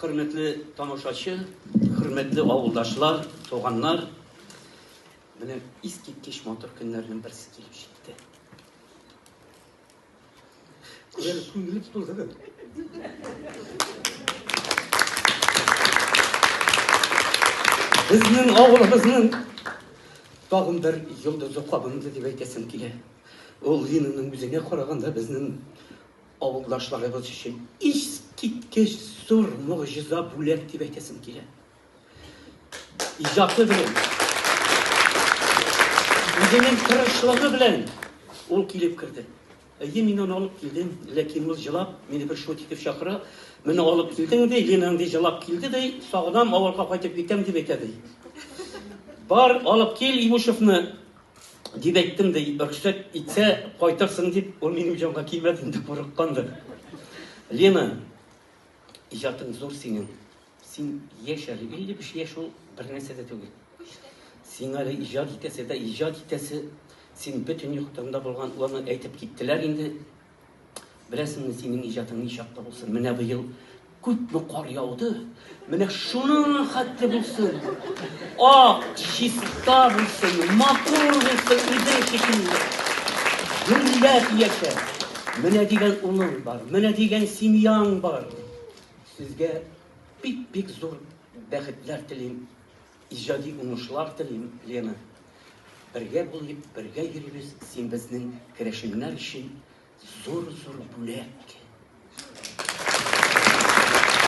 Хөрмәтле тамашачы, хөрмәтле авылдашлар, туганнар! Менә искиткеч матур көннәрнең берсе килеп җитте. Күңел күңел тулды. Безнең авылыбызның тагын бер йолдызы кабынды дип әйтәсем килә. Ул Линаның үзенә караганда безнең Авылдашларыбыз өчен искиткеч зур могҗиза бүләк дип әйтәсем килә. Иҗаты белән, үзенең тырышлыгы белән ул килеп керде. Әйе, мин аны алып килдем, ләкин ул җылап, мине бер шут итеп чакыра. Менә алып килдең ди, Лина андый җылап килде ди, сагынам, авылга кайтып китәм дип әйтә ди. Бар, алып кил Имушевны, Дип әйттем дә, рөхсәт итсә, кайтырсың дип, ул минем җанга килмәде инде, курыккандыр. Лена, иҗатың зур синең. Син яшь әле, 55 яшь ул бер нәрсә дә түгел. Син әле иҗат итәсе дә, иҗат итәсе, син бөтен яктан да булган, аны әйтеп киттеләр инде, Беләсеңме, синең иҗатың ни чакта булсын? Менә быел күпме кар яуды? Менә шуның хәтле булсын. Ак, чиста булсын, матур булсын, үзе шикелле. Гөрләп яшә. Менә дигән улың бар, менә дигән семьяң бар. Сезгә бик-бик зур бәхетләр телим. Иҗади уңышлар телим, Лена! Бергә булыйк, бергә йөрибез, син безнең керәшеннәр өчен зур-зур бүләк!